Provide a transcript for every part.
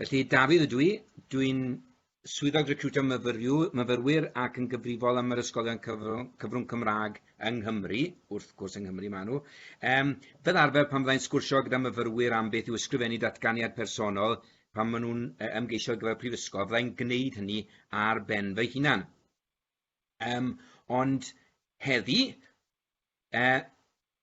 Felly, Dafydd ydw i. Dwi'n Swyddog Recriwtio Myfyrwyr ac yn gyfrifol am yr ysgolion cyfrwng, cyfrwng Cymraeg yng Nghymru, wrth gwrs yng Nghymru maen nhw. Um, fel arfer pan fyddai'n sgwrsio gyda myfyrwyr am beth yw ysgrifennu datganiad personol pan maen nhw'n ymgeisio ar gyfer prifysgol, fyddai'n gwneud hynny ar ben fy hunan. Um, ond heddi, uh,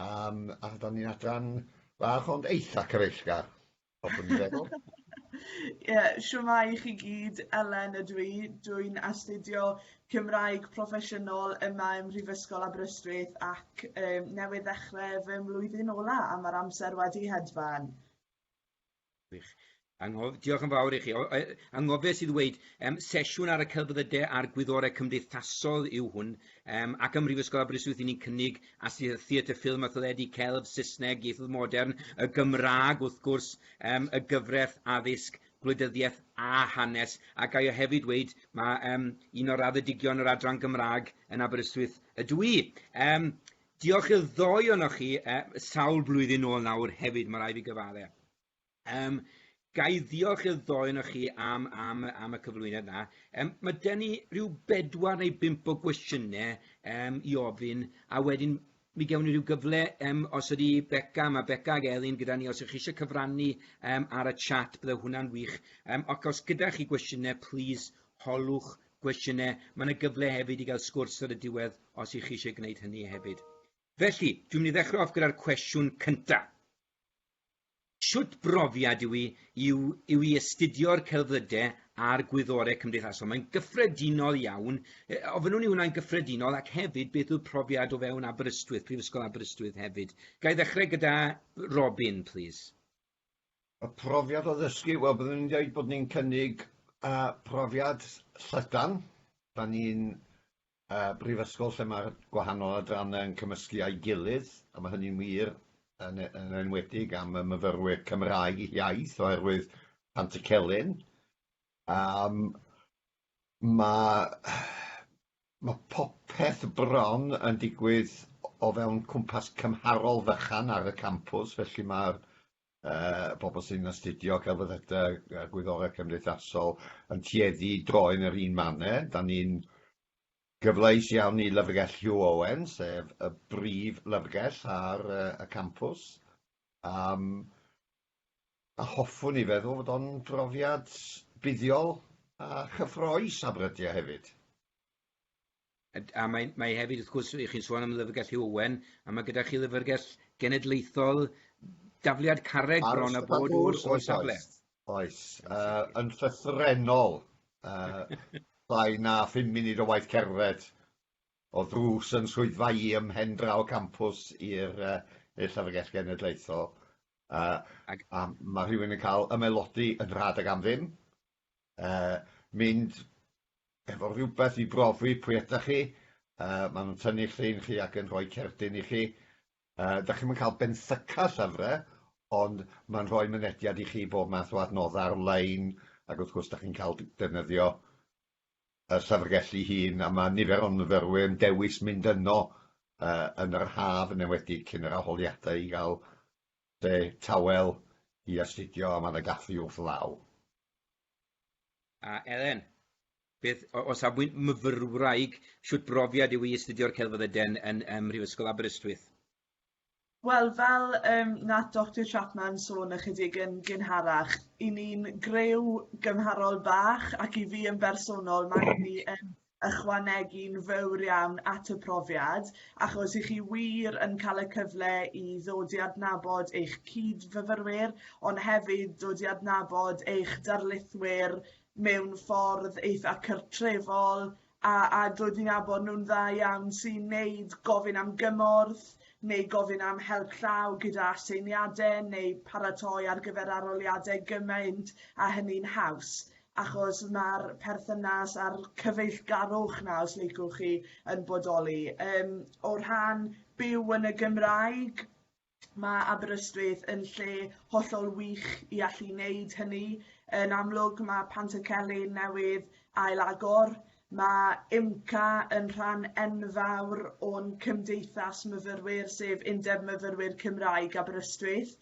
Yym a dan ni'n adran fach ond eitha' cyfeillgar hoffwn i feddwl. Ie shwmae i chi gyd Elen ydw i, dwi'n astudio Cymraeg Proffesiynol yma ym Mhrifysgol Aberystwyth ac yym newydd ddechrau fy mlwyddyn ola' a ma'r amser wedi hedfan. Wych. Anghof... Diolch yn fawr i chi. O, e, anghofes i ddweud, um, sesiwn ar y celfyddydau a'r gwyddorau cymdeithasol yw hwn, um, ac ym Mhrifysgol Aberystwyth i ni'n cynnig astudiaeth theatr, ffilm a theledu, celf, Saesneg, ieithoedd modern, y Gymraeg wrth gwrs, um, y gyfraith, addysg, gwleidyddiaeth a hanes. A gai o hefyd dweud, mae um, un o'r raddedigion yr adran Gymraeg yn Aberystwyth ydw i. Um, Diolch i'r ddou ohonoch chi, sawl blwyddyn nôl nawr hefyd, mae rai fi gyfaddau. Um, ga i ddiolch i'r ddou ohonoch chi am, am, am y cyflwyniad na. Um, mae gen i rhyw bedwar neu bimp o gwestiynau um, i ofyn, a wedyn mi gewn ni rhyw gyfle, um, os ydy Beca, mae Beca ag Elin gyda ni, os ydych chi eisiau cyfrannu um, ar y chat, bydde hwnna'n wych. Um, ac os gyda chi gwestiynau, please holwch gwestiynau, mae yna gyfle hefyd i gael sgwrs ar y diwedd os ych chi eisiau gwneud hynny hefyd. Felly, dwi'n mynd i ddechrau off gyda'r cwestiwn cyntaf. Sut brofiad yw i, yw, yw i astudio'r celfyddydau a'r gwyddorau cymdeithasol? Mae'n gyffredinol iawn. E, ofynnwn i hwnna'n gyffredinol ac hefyd beth yw'r profiad o fewn Aberystwyth, Prifysgol Aberystwyth hefyd. Ga i ddechrau gyda Robin, please? y profiad o ddysgu, wel byddwn i'n dweud bod ni'n cynnig uh, profiad llydan. Da ni'n uh, brifysgol lle mae'r gwahanol adrannau yn cymysgu â'i gilydd, a mae hynny'n wir yn, e, yn enwedig am y myfyrwyr Cymraeg iaith oherwydd Pant y Celyn. Um, Mae mae popeth bron yn digwydd o fewn cwmpas cymharol fychan ar y campws, felly mae'r yy bobl sy'n astudio celfyddydau a gwyddorau cymdeithasol yn tueddu i droi yn yr un manner. Dan ni'n gyfleus iawn i Lyfrgell Hugh Owen, sef y brif lyfrgell ar y campws, am a hoffwn i feddwl fod o'n brofiad buddiol a chyffrous a brydia hefyd. A mae, mae hefyd, wrth gwrs, chi'n sôn am Lyfrgell Hugh Owen, a mae gyda chi Lyfrgell Genedlaethol dafliad carreg bron a bod o'r, or safle. Oes, uh, yn llythrenol, uh, llai na 5 munud o waith cerdded o ddrws yn swyddfa i ymhen draw campus i'r uh, Llyfrgell Genedlaethol. Uh, Ag... A mae rhywun yn cael ymelodi yn rhad ag am ddim. Uh, mynd efo rhywbeth i brofi pwy ydych chi. Uh, maen nhw'n tynnu llun chi ac yn rhoi cerdyn i chi. Uh, da chi'n cael benthyca llyfrau, ond mae'n rhoi mynediad i chi bob math o adnoddau ar-lein, ac wrth gwrs da chi'n cael defnyddio y llyfrgell ei hun, a mae nifer o myfyrwyr yn dewis mynd yno yn yr haf, yn enwedig cyn yr arholiadau, i gael lle tawel i astudio, a mae yna gaffi wrth law. A Elen, beth, o safbwynt myfyrwraig, shwt brofiad yw i astudio'r Celfyddydau yn Mhrifysgol Aberystwyth? Wel fel yym nath Doctor Chapman sôn ychydig yn gynharach 'yn ni'n greu gymharol bach ac i fi yn bersonol ma' hynny yn ychwanegu'n fowr iawn at y profiad achos 'ych chi wir yn cael y cyfle i ddod i adnabod eich cyd-fyfyrwyr ond hefyd dod i adnabod eich darlithwyr mewn ffordd eitha' cartrefol a a doedd ni'n nabod nhw'n dda iawn sy'n 'neud gofyn am gymorth neu gofyn am help llaw gyda aseiniade neu paratoi ar gyfer aroliade gymaint a hynny'n haws achos ma'r perthynas a'r cyfeillgarwch 'na os liciwch chi yn bodoli yym o rhan byw yn y Gymraeg ma' Aberystwyth yn lle hollol wych i allu neud hynny yn amlwg ma' Pantycelyn newydd ail agor ma' IMCA yn rhan enfawr o'n cymdeithas myfyrwyr sef Undeb Myfyrwyr Cymraeg Aberystwyth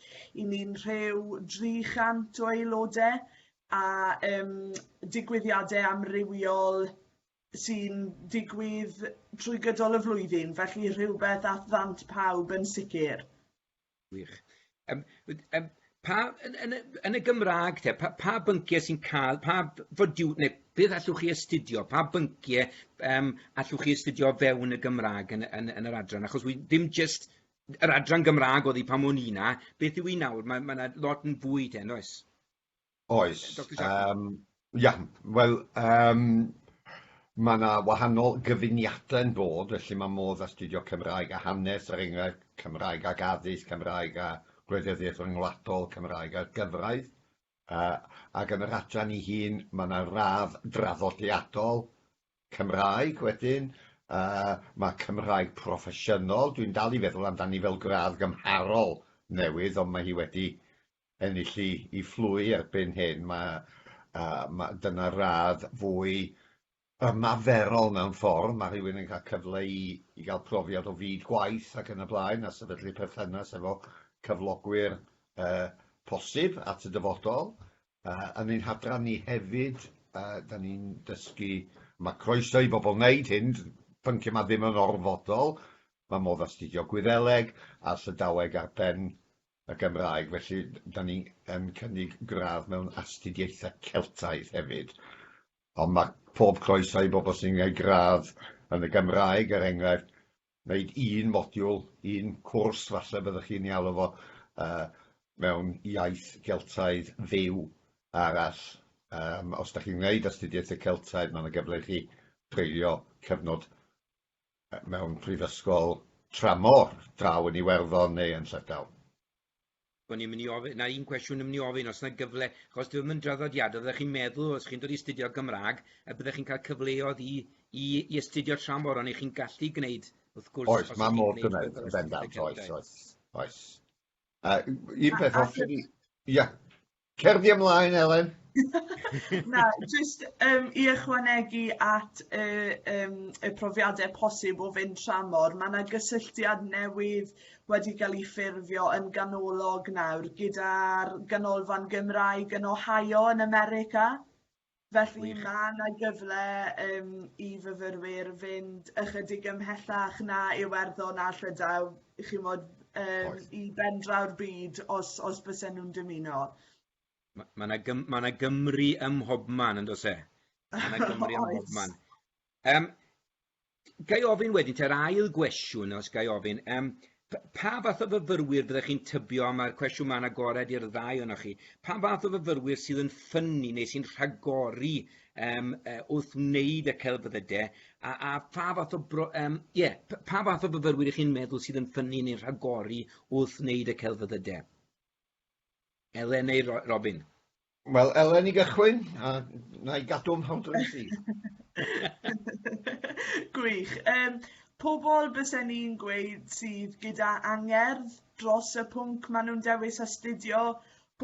'yn ni'n rhyw 300 o aelode a yym digwyddiade amrywiol sy'n digwydd trwy gydol y flwyddyn, felly rhywbeth at ddant pawb yn sicr. Wych. Um, um, pa, yn, yn, yn, y Gymraeg te, pa, pa bynciau sy'n cael, pa fodiw, neu beth allwch chi astudio, pa bynciau um, allwch chi astudio fewn y Gymraeg yn, yn, yn yr adran, achos wy, dim jyst yr adran Gymraeg oedd hi pan o'n i na, beth yw i nawr, mae yna ma lot yn fwy te, yn oes? Oes. Doctor Jack. Um, ia, wel, um, mae yna wahanol gyfuniadau yn bod, felly mae modd astudio Cymraeg a hanes, er enghraifft, Cymraeg ac addysg, Cymraeg a gwleidyddiaeth ryngwladol, Cymraeg a gyfraith. Uh, ac yn yr adran i hun, mae yna radd draddodiadol Cymraeg wedyn, uh, mae Cymraeg proffesiynol, dwi'n dal i feddwl amdani fel gradd gymharol newydd, ond mae hi wedi ennill i, i fflwy erbyn hyn. Mae, uh, ma, dyna radd fwy ymaferol mewn ffordd, mae rhywun yn cael cyfle i, i gael profiad o fyd gwaith ac yn y blaen a sefydlu perthynas efo cyflogwyr uh, posib at y dyfodol. Uh, yn ein hadran ni hefyd, uh, da ni'n dysgu, mae croeso i bobl wneud hyn, pync yma ddim yn orfodol, mae modd astudio Gwyddeleg a Llydaweg ar ben y Gymraeg, felly 'dan ni yn cynnig gradd mewn astudiaethau Celtaidd hefyd, ond ma' pob croeso i bobl sy'n gneud gradd yn y Gymraeg, er enghraifft, wneud un modiwl, un cwrs falle byddwch chi'n ei alw fo, yy mewn iaith Geltaidd fyw arall. Yym os 'dach chi'n wneud astudiaethau Celtaidd, ma' 'na gyfle i chi dreulio cyfnod mewn prifysgol tramor, draw yn Iwerddon neu yn Llydaw. O'n i'n mynd i ofyn, 'na un cwestiwn yn mynd i ofyn, os 'na gyfle, achos dyw e ddim yn draddodiadol, fyddech chi'n meddwl os chi'n dod i astudio Gymraeg, y byddech chi'n cael cyfleoedd i i i astudio tramor, ond 'ych chi'n gallu gwneud, wrth gwrs... Oes, mae modd gwneud, yn bendant, oes, oes, oes. Yy un peth os ydi... Ia. Cer di ymlaen Elen. Na jyst yym i ychwanegu at y yym y profiade posib o fynd tramor ma' 'na gysylltiad newydd wedi ga'l 'i ffurfio yn ganolog nawr gyda'r ganolfan Gymraeg yn Ohio yn America. Felly mae yna gyfle yym i fyfyrwyr fynd ychydig ymhellach na Iwerddon a Llydaw chi'mod yym i bendraw'r byd os os bysen nhw'n dymuno. Ma' ma' 'na gym- ma' 'na Gymru ym mhobman yn does e? Ma' 'na Gymru ym mhobman. Yym Ga i ofyn wedyn te'r ail gwestiwn, os ga i ofyn, um, pa fath o fyfyrwyr fyddech chi'n tybio, mae'r cwestiwn mae'n agored i'r ddau o'na chi, pa fath o fyfyrwyr sydd yn ffynnu neu sy'n rhagori um, uh, wrth wneud y celfyddydau, a, a pha fath o, bro, um, yeah, pa fath o fyfyrwyr ych chi'n meddwl sydd yn ffynnu neu'n rhagori wrth wneud y celfyddydau? Elen neu Robin? Wel, Elen i gychwyn, a na i gadw am hawdra i ti. Gwych. Um, pobl bysen ni'n gweud sydd gyda angerdd dros y pwnc maen nhw'n dewis astudio,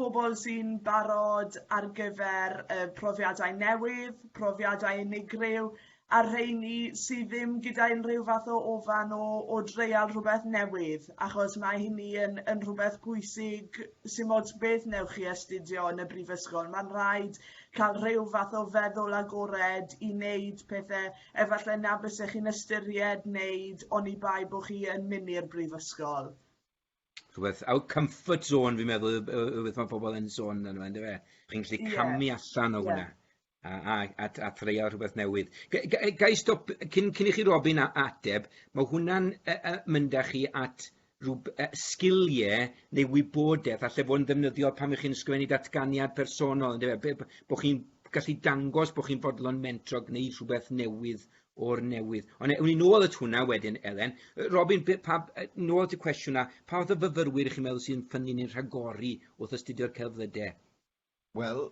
pobl sy'n barod ar gyfer uh, profiadau newydd, profiadau unigryw, a'r rheini sydd ddim gyda unrhyw fath o ofan o, o dreial rhywbeth newydd, achos mae hynny yn, yn rhywbeth pwysig sy'n ots beth newch chi astudio yn y brifysgol. Mae'n rhaid cael rhyw fath o feddwl agored i wneud pethau efallai na bysech chi'n ystyried wneud oni bai bod chi yn mynd i'r brifysgol. rhywbeth, out comfort zone fi'n meddwl, rhywbeth mae pobl yn sôn yn yma, ynddo fe? Chi'n gallu camu yeah. allan o hwnna. Yeah. A, a, a, a threio rhywbeth newydd. Ga i stop, cyn, cyn i chi Robin a ateb, mae hwnna'n uh, uh, mynd â chi at rhywb, uh, sgiliau neu wybodaeth a lle fo'n ddefnyddiol pan ych chi'n sgwennu datganiad personol, ynddo fe? Bod chi'n gallu dangos bod chi'n fodlon mentro gwneud rhywbeth newydd o'r newydd. Ond ewn ni nôl at hwnna wedyn, Elen. Robin, pa, nôl at y cwestiwn na, pa fath o fyfyrwyr chi'n meddwl sy'n ffynnu neu'n rhagori wrth astudio'r celflydau? Wel,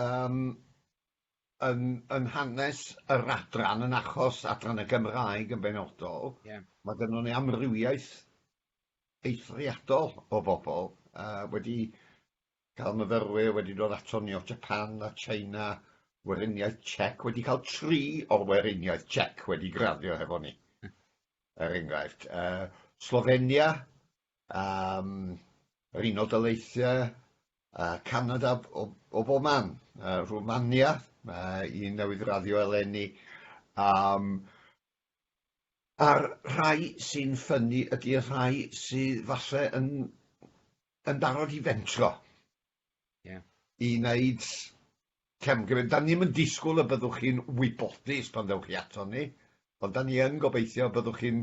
um, yn, yn hanes yr adran, yn achos adran y Gymraeg yn benodol, yeah. mae gennym ni amrywiaeth eithriadol o bobl uh, wedi Cael myfyrwyr wedi dod ato ni o Japan a China, Weriniaeth Tsiec wedi cael tri o'r Weriniaeth Tsiec wedi graddio hefo ni, er enghraifft. Uh, Slovenia, um, yr Unol Daleithiau, uh, Canada o, o bob man, uh, Rwmania, uh, i newydd raddio eleni, um, A'r rhai sy'n ffynnu ydy'r rhai sydd falle yn yn barod i fentro. Ie. I wneud camgymeriad. Da ni ddim yn disgwyl y byddwch chi'n wybodus pan ddewch chi ato ni, ond da ni yn gobeithio y byddwch chi'n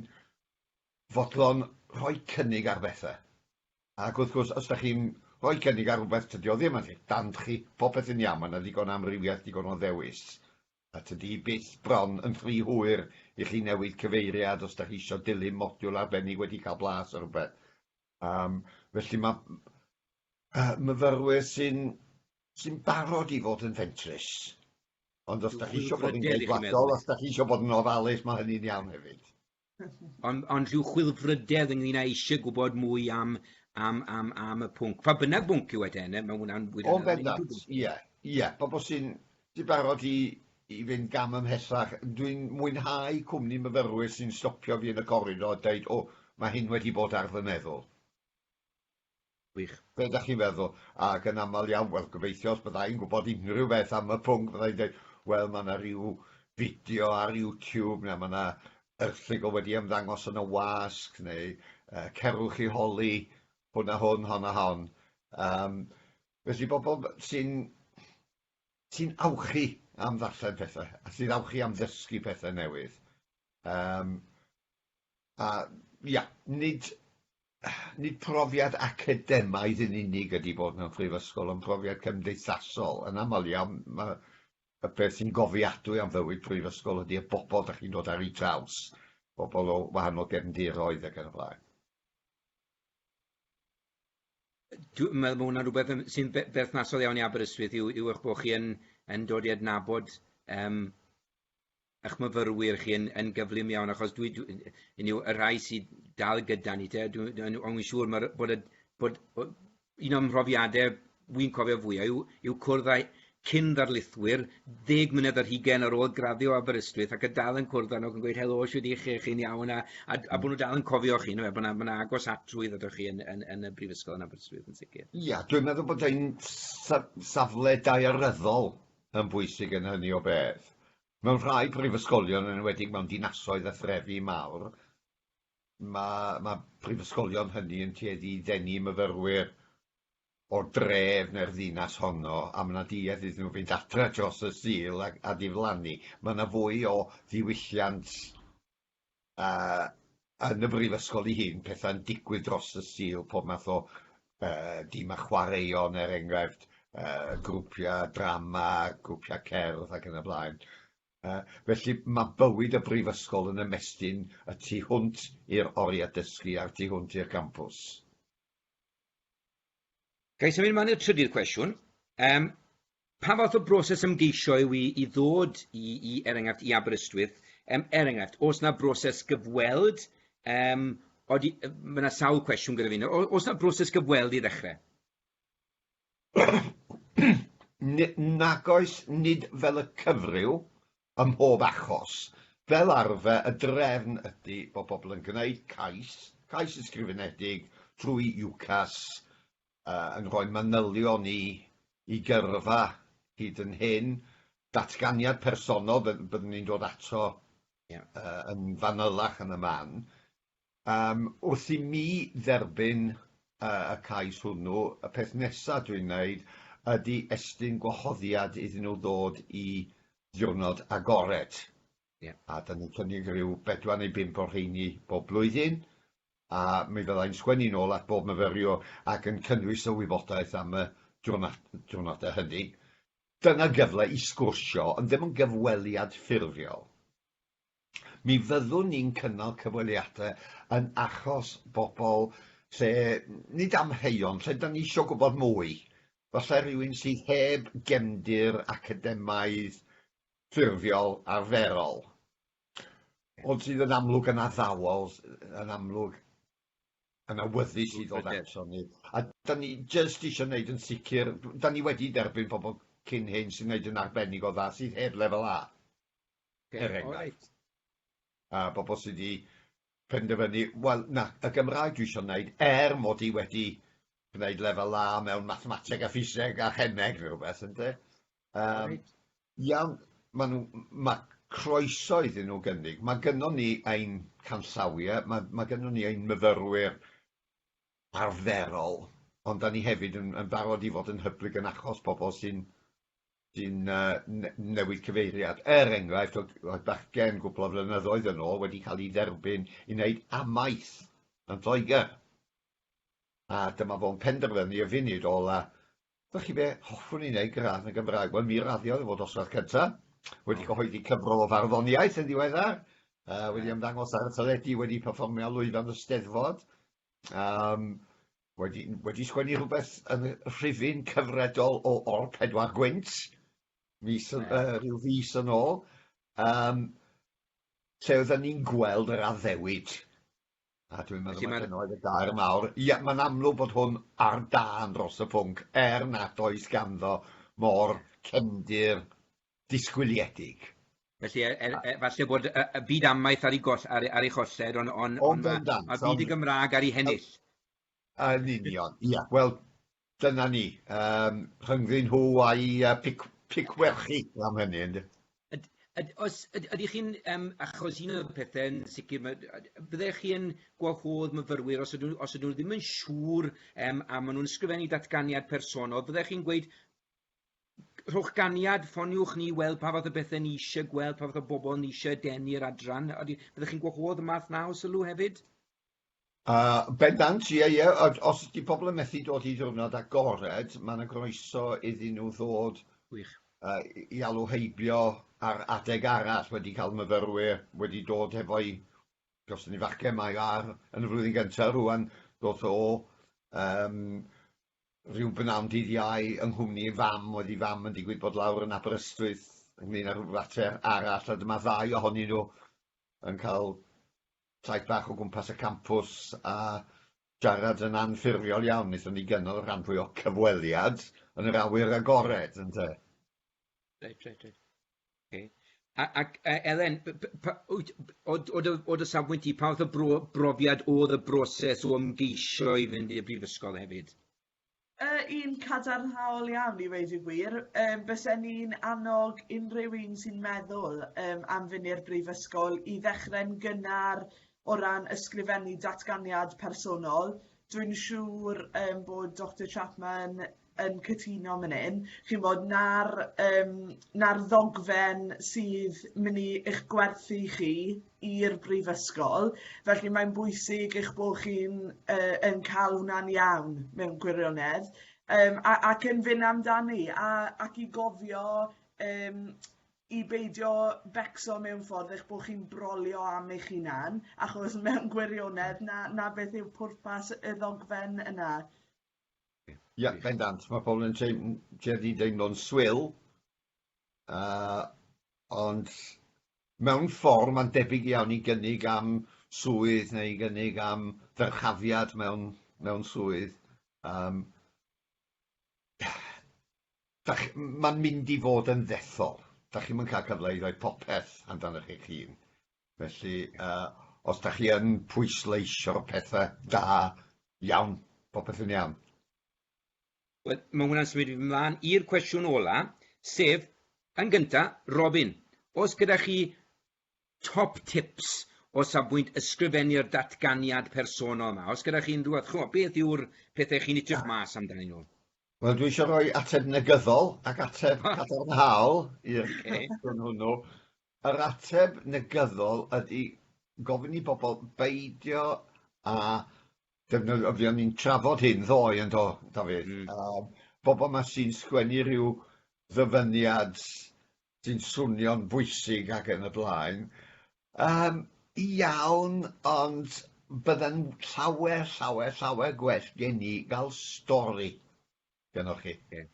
fodlon rhoi cynnig ar bethau. Ac wrth gwrs, os da chi'n rhoi cynnig ar rhywbeth, tydi o ddim yn eich dant chi, popeth yn iawn, mae yna ddigon o amrywiaeth, digon o ddewis. A tydi byth bron yn rhy hwyr i chi newid cyfeiriad os 'da chi isio dilyn modiwl arbennig wedi cael blas ar rhywbeth. Yym, felly mae yy myfyrwyr sy'n sy'n barod i fod yn fentrus. Ond os 'da chi isio bod yn geidwadol, os 'da chi isio bod yn ofalus, mae hynny'n iawn hefyd. Ond, ond rhyw chwilfrydedd ynglyn â eisiau gwybod mwy am, am, am, am y pwnc. Pa bynnag bwnc yw e te, neu mae hwnna'n fwy... O'n bendant, ie, ie. Pobl sy'n di barod i, i fynd gam ymhellach. Dwi'n mwynhau cwmni myfyrwyr sy'n stopio fi yn y coridor a dweud, o, mae hyn wedi bod ar fy meddwl. Gwych. Be ydach chi'n feddwl? Ac yn aml iawn, wel, gobeithio os bydda i'n gwybod unrhyw beth am y pwnc, bydda i'n dweud, wel, mae yna ryw fideo ar YouTube, neu mae yna erthygl wedi ymddangos yn y wasg, neu uh, cerwch i holi hwn a hwn, hon a hon. Um, felly bobl sy'n sy awchu am ddarllen pethau, a sy'n awchu am ddysgu pethau newydd. Um, A ia, nid nid profiad academaidd yn unig ydy bod mewn prifysgol, ond profiad cymdeithasol. Yn aml iawn, mae y peth sy'n gofiadwy am fywyd prifysgol ydy y bobl dych chi'n dod ar eu traws, pobl o wahanol gefndiroedd ac yn y blaen. Dw- ma' ma' hwnna'n rwbeth yym sy'n be- berthnasol iawn i Aberystwyth yw yw eich bod chi yn yn dod i adnabod yym ych myfyrwyr chi yn, yn gyflym iawn, achos dwi, dwi, yn yw, y rhai sydd dal gyda ni te, dwi'n dwi, dwi, dwi siŵr mae'r, bod, y, bod, bod un o'n mhrofiadau wy'n cofio fwyaf yw, yw cwrdd â cyn ddarlithwyr, ddeg mlynedd ar hugen ar ôl graddio Aberystwyth ac y dal yn cwrdd â nhw ac yn gweud helo, siwyd i chi, chi'n iawn, a, a, a bod nhw dal yn cofio chi, no, bod yna agos atrwydd ydych chi yn, yn, yn, y brifysgol yn Aberystwyth yn sicr. Ia, dwi'n meddwl bod ein safle daearyddol yn bwysig yn hynny o beth. Mewn rhai prifysgolion, yn enwedig mewn dinasoedd a threfi mawr, mae, mae prifysgolion hynny yn tueddu i ddenu myfyrwyr o'r dref neu'r ddinas honno, a mae yna duedd iddyn nhw fynd adre dros y Sul a, a diflannu. Mae yna fwy o ddiwylliant a yn y brifysgol 'i hun petha'n digwydd dros y Sul, pob math o yy dima chwaraeon er enghraifft, yy grwpia' drama, grwpia' cerdd ac yn y blaen. Yy felly ma' bywyd y brifysgol yn ymestyn y tu hwnt i'r oria' dysgu a'r tu hwnt i'r gampws. Ga i symud ymlaen i'r trydydd cwestiwn? Um, pa fath o broses ymgeisio yw i, i ddod i, i, er enghraifft, i Aberystwyth? Um, er enghraifft, os yna broses gyfweld, um, odi, mae yna sawl cwestiwn gyda fi. Os yna broses gyfweld i ddechrau? Nag oes, nid fel y cyfryw, Ym mhob achos, fel arfer, y drefn ydy bod pobl yn gwneud cais, cais ysgrifenedig, trwy UCAS, yn rhoi manylion i i gyrfa hyd yn hyn, datganiad personol, byddwn ni'n dod ato yn fanylach yn y man, Yym, wrth i mi dderbyn yy y cais hwnnw, y peth nesa dwi'n wneud ydi estyn gwahoddiad iddyn nhw ddod i ddiwrnod agored. Ie. A 'dan ni'n cynnig ryw bedwar neu bump o'r rheini bob blwyddyn, a mi fydda i'n sgwennu nôl at bob myfyriwr ac yn cynnwys y wybodaeth am y diwrna- diwrnodau hynny. Dyna gyfle i sgwrsio, ond ddim yn gyfweliad ffurfiol. Mi fyddwn ni'n cynnal cyfweliadau yn achos bobl lle, nid amheuon, lle da ni eisiau gwybod mwy. Falle rhywun sydd heb gefndir academaidd, ffurfiol, arferol. Ond sydd yn amlwg yn addawol, yn amlwg yn awyddus i ddod ato ni. A da ni jyst eisiau gwneud yn sicr, da ni wedi derbyn pobl cyn hyn sy'n gwneud yn arbennig o dda, sydd heb lefel A. er enghraifft, a bobl sydd wedi penderfynu, wel, na, y Gymraeg dwi eisiau wneud, er mod i wedi gwneud lefel A mewn mathemateg a ffiseg a chemeg neu rhywbeth, ynde? Um, iawn, mae, nhw, mae croeso iddyn nhw gynnig. Mae gynnon ni ein canllawiau, mae, mae gynnon ni ein myfyrwyr arferol, ond da ni hefyd yn, yn barod i fod yn hyblyg yn achos pobl sy'n sy'n newid cyfeiriad. Er enghraifft, oedd bachgen gwpl o flynyddoedd yn ôl wedi cael ei dderbyn i wneud amaeth yn Lloegr. A dyma fo'n penderfynu y funud ola, Dych chi be, hoffwn i wneud gradd yn Gymraeg. Wel, mi raddiodd e fod oswedd cyntaf, wedi cyhoeddi cyfrol o farddoniaeth yn ddiweddar, uh, wedi ymddangos ar y teledu, wedi perfformio lwyfan y steddfod. Um, Wedi, wedi sgwennu rhywbeth yn rhifyn cyfredol o O'r Pedwar Gwynt, mis, yeah. uh, rhyw fus yn ôl, um, lle oedden ni'n gweld yr addewid. A dwi'n meddwl mae dyna oedd y gair mawr. Ia, mae'n amlwg bod hwn ar dan dros y pwnc, er nad oes ganddo mor cefndir disgwyliedig. Felly, e- e- e- falle bod y, y byd amaeth ar ei, goll, ar, ar ei cholled, ond on, on, on ma, ma byd y Gymraeg ar ei hennill. Yn union, ia. Yeah. Wel, dyna ni. Um, rhyngddyn nhw a'i uh, pic, picwerchu am hynny. Yd, yd, os yd, ydych chi'n, um, achos un o'r pethau yn sicr, byddech chi yn gwahodd myfyrwyr os ydyn, os ydyn nhw ddim yn siŵr um, a maen nhw'n ysgrifennu datganiad personol, byddech chi'n gweud rhowch ganiad, ffoniwch ni i weld pa fath o bethe ni isie gweld, pa fath o bobl ni isie denu i'r adran. Odi, fyddech chi'n gwahodd y math 'na o sylw hefyd? A, bendant, ie, ie. Yd- os ydi pobl yn methu dod i ddiwrnod agored, ma' 'na groeso iddyn nhw ddod... Gwych. ...yy i i alw heibio ar adeg arall, wedi cael myfyrwyr wedi dod hefo'u costyngifaciau, mae o ar yn y flwyddyn gynta rŵan, doth o o yym Rhyw bnawn dydd Iau, yng nghwmni ei fam, oedd ei fam yn digwydd bod lawr yn Aberystwyth ynglŷn â rhyw fater arall, a dyma ddau ohonyn nhw yn cael taith bach o gwmpas y campws a siarad yn anffurfiol iawn. Wnaethon ni gynnal y rhan fwya' o'r cyfweliad yn yr awyr agored, ynte? Reit, reit, reit. Oce. A ac yy Elen p- p- pa- wyt b- od- od- od- o dy safbwynt di pa fath o bro- brofiad o'dd y broses o ymgeisio i fynd i'r brifysgol hefyd? Yy un cadarnhaol iawn i weud y gwir yym bysen i'n annog unrhyw un sy'n meddwl yym am fyn' i'r brifysgol i ddechre'n gynnar o ran ysgrifennu datganiad personol dwi'n siŵr yym bod Doctor Chapman yn cytuno man 'yn chi'mod 'na'r yym 'na'r ddogfen sydd myn' i eich gwerthu chi i'r brifysgol felly mae'n bwysig eich bo' chi'n yy yn ca'l hwna'n iawn mewn gwirionedd yym a- ac yn fyn' amdani a ac i gofio yym i beidio becso mewn ffordd eich bo' chi'n brolio am eich hunan achos mewn gwirionedd 'na 'na beth yw pwrpas y ddogfen yna. Ie, bendant. Mae pobl yn tueddu i deimlo'n swil, uh, ond mewn ffordd mae'n debyg iawn i gynnig am swydd neu i gynnig am ddyrchafiad mewn, mewn swydd. Um, mae'n mynd i fod yn ddethol. Da chi'n mynd cael cyfle i ddweud popeth amdanoch eich hun. Felly, os da chi yn pwysleisio pethau da iawn, popeth yn iawn. Wel, mae hwnna'n symud fi mlaen i'r cwestiwn ola, sef, yn gynta, Robin, os gyda chi top tips o safbwynt ysgrifennu'r datganiad personol yma, os gyda chi unrhyw fath, chimo, beth yw'r pethau chi'n edrych mas amdanyn nhw? Wel, dwi eisiau rhoi ateb negyddol ac ateb cadarnhaol i'r cwestiwn hwnnw. Yr ateb negyddol ydy gofyn i bobl beidio â defnyddio... fuon ni'n trafod hyn ddoe yn do, Dafydd? Mm. Yym bobl 'ma sy'n sgwennu rhyw ddyfyniad sy'n swnio'n bwysig ac yn y blaen, yym iawn, ond bydde'n llawer, llawer, llawer gwell gen i ga'l stori gynnoch chi. Ie.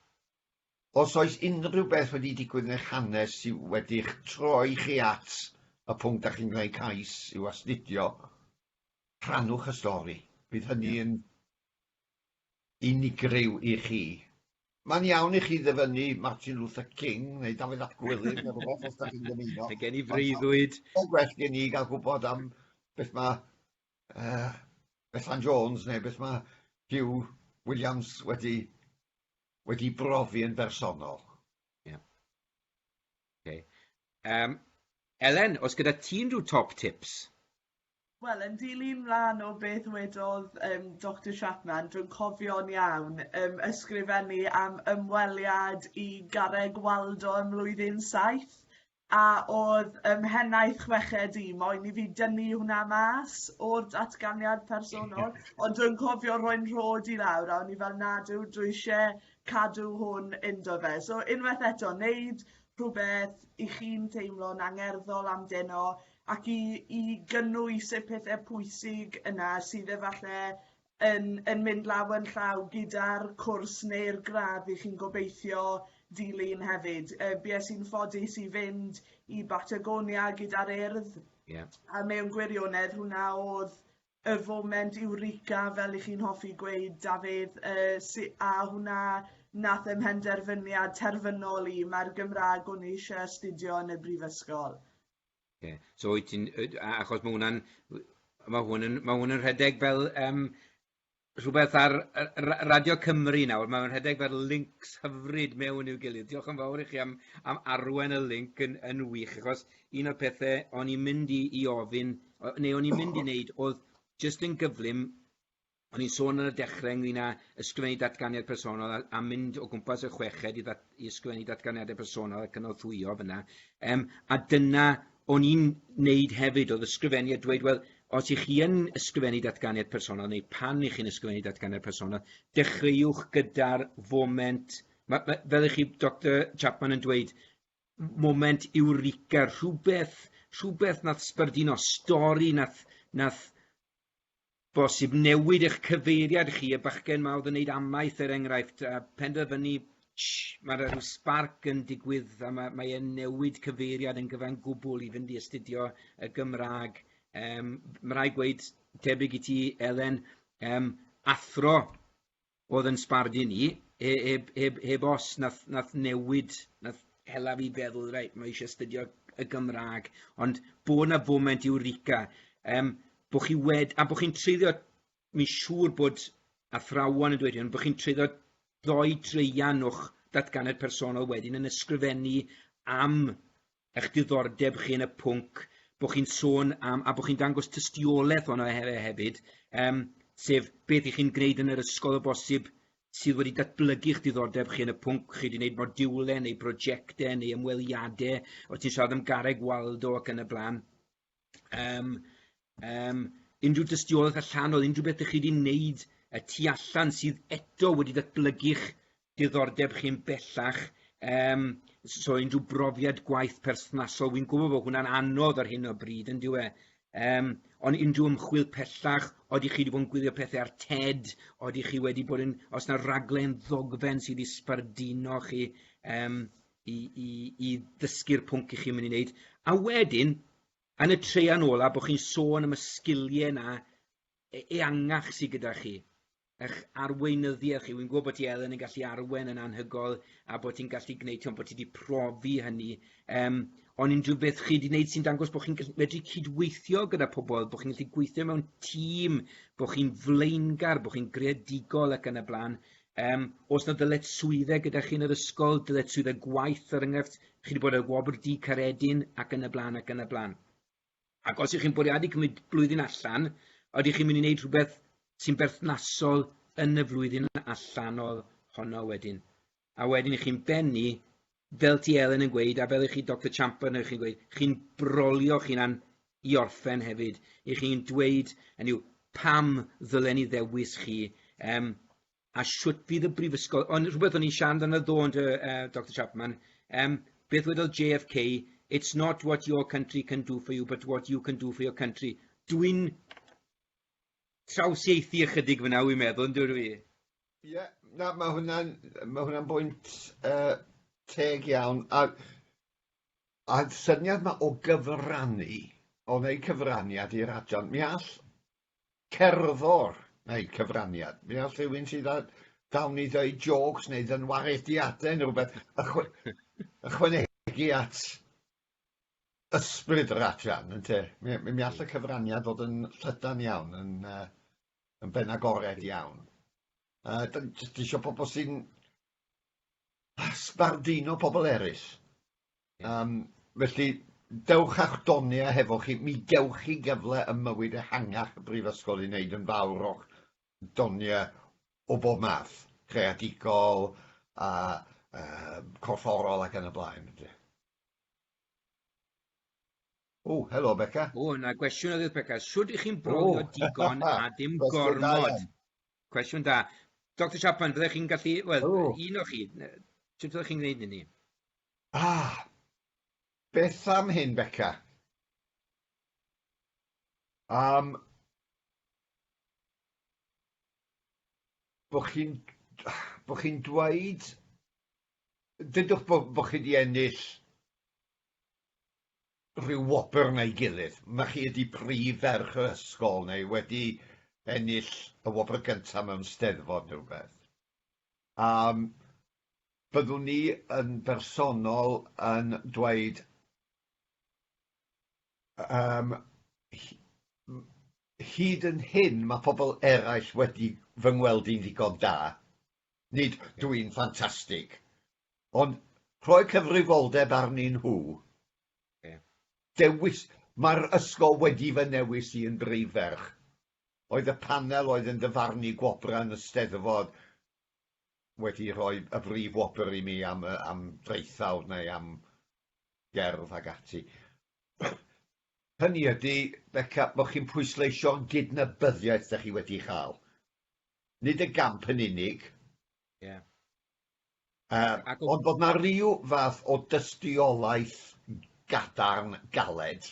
Os oes unrhyw beth wedi digwydd yn eich hanes sydd wedi'ch troi chi at y pwnc da chi'n gwneud cais i'w astudio, rhannwch y stori. Bydd hynny yn unigryw i chi. Mae'n iawn i chi ddyfynnu Martin Luther King neu Dafydd ap Gwilym neu rhywbeth os da chi'n dymuno. Mae gen i freuddwyd. Mae'n gwell gen i gael gwybod am beth mae uh, Bethan Jones neu beth mae Hugh Williams wedi wedi brofi yn bersonol. Ie. Oce. Yym, Elen, oes gyda ti unrhyw top tips? Wel, yn dilyn mlan o beth wedodd um, Doctor Chapman, dwi'n cofio'n iawn, um, ysgrifennu am ymweliad i Garreg Waldo ym mlwyddyn saith, A oedd ym mhennaeth chweched i, moyn i fi dynnu hwnna mas o'r datganiad personol, ond dwi'n cofio rhoi'n rhod i lawr a o'n i fel nad yw dwi isie cadw hwn inddo fe. So unwaith eto, wneud rhywbeth i chi'n teimlo'n angerddol amdeno ac i, i gynnwys y pethau pwysig yna sydd efallai yn yn mynd law yn llaw gyda'r cwrs neu'r gradd i chi'n gobeithio dilyn hefyd. Uh, bues i'n ffodus i fynd i Batagonia gyda'r urdd, yeah. a mewn gwirionedd hwnna oedd y foment eureka fel i chi'n hoffi gweud Dafydd uh, si, a hwnna nath ym mhenderfyniad terfynol i mae'r Gymraeg o'n eisiau astudio yn y brifysgol. Ie. So wyt ti'n yy a- achos ma' hwnna'n w- ma' hwn yn ma' hwn yn rhedeg fel yym rhywbeth ar yy ra- Radio Cymru nawr, ma' fe'n rhedeg fel lincs hyfryd mewn i'w gilydd. Diolch yn fawr i chi am am arwain y linc yn yn wych achos un o'r pethe o'n i'n mynd i i ofyn o- neu o'n i'n mynd i neud o'dd jyst yn gyflym O'n i'n sôn ar y dechrau ynglyn â ysgrifennu datganiad personol a, a mynd o gwmpas y chweched i, ddat, i ysgrifennu datganiadau personol a cynorthwyo fyna. Um, a dyna o'n i'n neud hefyd, oedd ysgrifennu a dweud, wel, os ych chi yn ysgrifennu datganiad personol, neu pan ych chi'n ysgrifennu datganiad personol, dechreuwch gyda'r foment, ma, ma, fel ych chi, Dr Chapman, yn dweud, moment eureka, rhywbeth, rhywbeth nath sbardino, stori nath, nath Bosib newid eich cyfeiriad chi, y bachgen 'ma oedd yn neud amaeth er enghraifft, a penderfynu sh, ma' 'na ryw sbarc yn digwydd a ma' mae e'n newid cyfeiriad yn gyfan gwbwl i fynd i astudio y Gymra'g. Yym ma' rai' gweud, tebyg i ti Elen, yym athro O'dd yn sbardun i, he- heb heb heb os, nath nath newid, nath hela fi feddwl reit ma' isie astudio y Gymrâg, ond bo' 'na foment Eureka yym bo' chi wed- a bo' chi'n treulio mi'n siŵr bod athrawon yn dweud hyn, bo' chi'n treulio dou draean o'ch datganiad personol wedyn yn ysgrifennu am eich diddordeb chi yn y pwnc bod chi'n sôn am, a bod chi'n dangos tystiolaeth ono e, e hefyd, um, sef beth ych chi'n gwneud yn yr ysgol o bosib sydd wedi datblygu eich diddordeb chi yn y pwnc, chi wedi gwneud modiwlau neu brosiectau neu ymweliadau, o ti'n siarad am garreg Waldo ac yn y blaen. yym yym unrhyw dystiolaeth allanol, unrhyw beth dych chi wedi wneud y tu allan sydd eto wedi datblygu'ch diddordeb chi'n bellach, um, so unrhyw brofiad gwaith perthnasol, wy'n gwybod bod hwnna'n anodd ar hyn o bryd, yn diwe, um, ond unrhyw ymchwil pellach, oeddech chi wedi bod yn gwylio pethau ar TED, oeddech chi wedi bod yn, os yna raglen ddogfen sydd wedi sbarduno chi, um, i, i, i ddysgu'r pwnc i chi'n mynd i wneud. A wedyn, yn y treian ola, bod chi'n sôn am y sgiliau yna e, eangach sydd gyda chi, eich arweinyddiaeth chi. Wy'n gwybod bod ti Elen yn gallu arwen yn anhygoel a bod ti'n gallu gwneud, ti'n bod ti wedi profi hynny. Um, ond unrhyw beth chi wedi gwneud sy'n dangos bod chi'n medru cydweithio gyda pobl, bod chi'n gallu gweithio mewn tîm, bod chi'n flaengar, bod chi'n greadigol ac yn y blaen. Yym, oes 'na ddyletswyddau gyda chi yn yr ysgol, ddyletswyddau gwaith er enghraifft, chi wedi bod ar y wobr du Caeredin ac yn y blaen ac yn y blaen. Ac os ych chi'n bwriadu cymryd blwyddyn allan, ydych chi'n mynd i wneud rhywbeth sy'n berthnasol yn y flwyddyn allanol honno wedyn? A wedyn chi'n bennu Fel ti Elen yn gweud, a fel i chi Doctor Champer neu chi'n gweud, chi'n brolio chi'n an i orffen hefyd, i chi'n dweud, yn yw, pam ddylen ni ddewis chi, um, a shwt fydd y brifysgol, ond rhywbeth o'n i'n siarad amdano ddo yn uh, e, Dr Chapman, um, beth wedodd JFK, it's not what your country can do for you, but what you can do for your country. Dwi'n trawsieithu ychydig fan'na wi'n meddwl, yndw dwi? Ie, na, mae hwnna'n ma hwnna bwynt uh, teg iawn. A, a syniad mae o gyfrannu, o wneud cyfraniad i'r adran, mi all cerddor wneud cyfraniad. Mi all rhywun sydd â dawn i ddweud jokes neu ddynwarediadau neu rhywbeth ychwanegu at ysbryd yr adran, ynte. Mi, mi, mi all y cyfraniad fod yn llydan iawn, yn, uh, yn ben agored iawn. Uh, da ni jyst eisiau pobl sy'n sbardino pobl eraill. Um, felly, dewch a'ch doniau hefo chi, mi gewch chi gyfle ym mywyd ehangach y brifysgol i wneud yn fawr o'ch doniau o bob math, creadigol, a uh, corfforol ac yn y blaen. O, helo Beca. O, na gwestiwn oedd Beca. Sut ych chi'n brolio oh. digon a dim gormod? Cwestiwn da. Dr Chapman, byddech chi'n gallu, wel, oh. un o chi, sut byddech chi'n gwneud hynny? Ah, beth am hyn, Beca? Um, bod chi'n bo chi dweud Dudwch bo bo chi di ennill rhyw wobr neu gilydd, ma chi ydi prif ferch yr ysgol neu wedi ennill y wobr gynta mewn steddfod neu rwbeth. A byddwn ni yn bersonol yn dweud yym hyd yn hyn ma pobl eraill wedi fy ngweld i'n ddigon da. Nid dw i'n ffantastig, ond rhoi cyfrifoldeb arnyn nhw. Dewis, mae'r ysgol wedi fy newis i yn brif ferch. Oedd y panel oedd yn dyfarnu gwobrau yn y Steddfod wedi rhoi y brif wobr i mi am, am draethawd neu am gerdd ac ati. Hynny ydy, Beca, bod chi'n pwysleisio gydnabyddiaeth da chi wedi chael. nid y gamp yn unig. Ie. Yy ond bod 'na ryw fath o dystiolaeth gadarn, galed,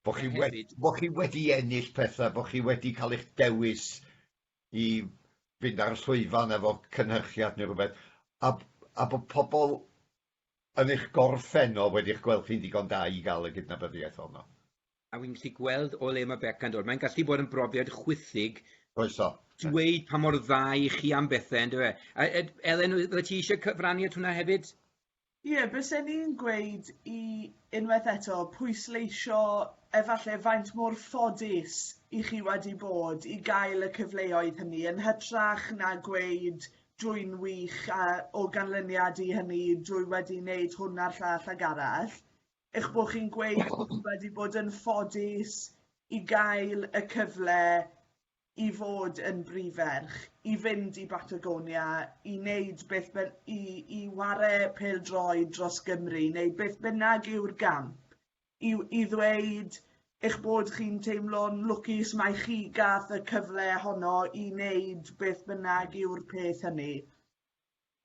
bo' chi wedi bo' chi wedi ennill petha, bo' chi wedi cael eich dewis i fynd ar y llwyfan efo cynhyrchiad neu rywbeth, a a bod pobl yn eich gorffennol wedi'ch gweld chi'n ddigon da i gael y gydnabyddiaeth honno. A fi'n gallu gweld o le ma' Beca yn dod. Mae'n gallu bod yn brofiad chwithig... Oes o. ...dweud pa mor dda 'y chi am bethe on'd yw e? A yy Elen o- fyddet ti isie cyfrannu at hwnna hefyd? Ie bysen i'n gweud i unwaith eto pwysleisio efalle faint mor ffodus 'y chi wedi bod i gael y cyfleoedd hynny yn hytrach na gweud dwy'n wych a o ganlyniad i hynny dwy wedi neud hwn a'r llall ag arall. eich bod chi'n gweud bod chi wedi bod yn ffodus i gael y cyfle i fod yn brif ferch, i fynd i Batagonia, i wneud beth ben, i, i ware pel droi dros Gymru, neu beth bynnag yw'r gamp, i, i ddweud eich bod chi'n teimlo'n lwcus mae chi gath y cyfle honno i wneud beth bynnag yw'r peth hynny.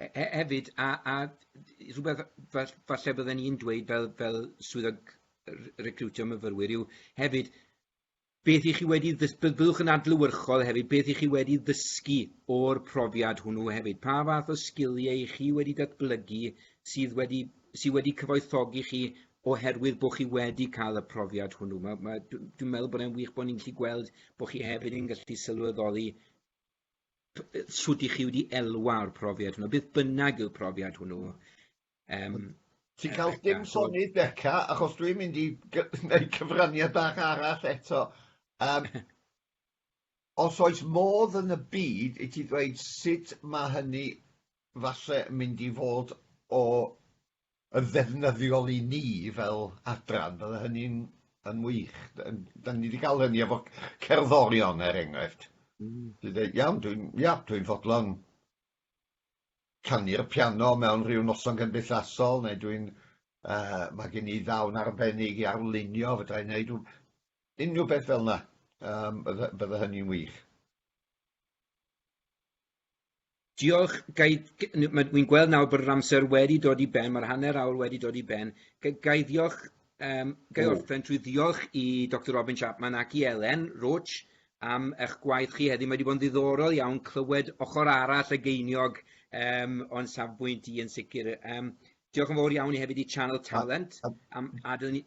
He- he- hefyd, a a d- rhywbeth fa- falle bydden i'n dweud fel fel swyddog r- recriwtio myfyrwyr yw hefyd beth i chi wedi ddys- by- byddwch yn adlewyrchol hefyd beth i chi wedi ddysgu o'r profiad hwnnw hefyd. Pa fath o sgiliau i chi wedi datblygu sydd wedi sy wedi cyfoethogi chi oherwydd bod chi wedi cael y profiad hwnnw. Mae, mae, dw- dwi'n meddwl bod e'n wych bod ni'n gallu gweld bod chi hefyd yn gallu sylweddoli sut i chi wedi elwa'r profiad hwnnw, beth bynnag yw'r profiad hwnnw. Um, Ti'n cael dim sonydd Beca, achos dwi'n mynd i wneud cyfraniad bach arall eto. Um, os oes modd yn y byd i ti ddweud sut mae hynny falle mynd i fod o yn ddefnyddiol i ni fel adran, bydde hynny'n yn wych. Da ni wedi cael hynny efo cerddorion, er enghraifft. Mm. Dwi'n dweud, iawn, dwi'n ia, dwi fodlon canu'r piano mewn rhyw noson gymdeithasol, neu dwi'n... Uh, mae gen i ddawn arbennig i arlunio, fydra i'n neud unrhyw beth fel yna. Um, bydde, bydde hynny'n wych. Diolch, gai... Wi'n gweld nawr bod yr amser wedi dod i ben, mae'r hanner awr wedi dod i ben. Gai ddiolch, um, gai orffen trwy ddiolch i Dr Robin Chapman ac i Elen Roach am eich gwaith chi heddi. Mae wedi bod yn ddiddorol iawn clywed ochr arall y geiniog um, o'n safbwynt i yn sicr. Um, diolch yn fawr iawn i hefyd i Channel Talent am adael ni...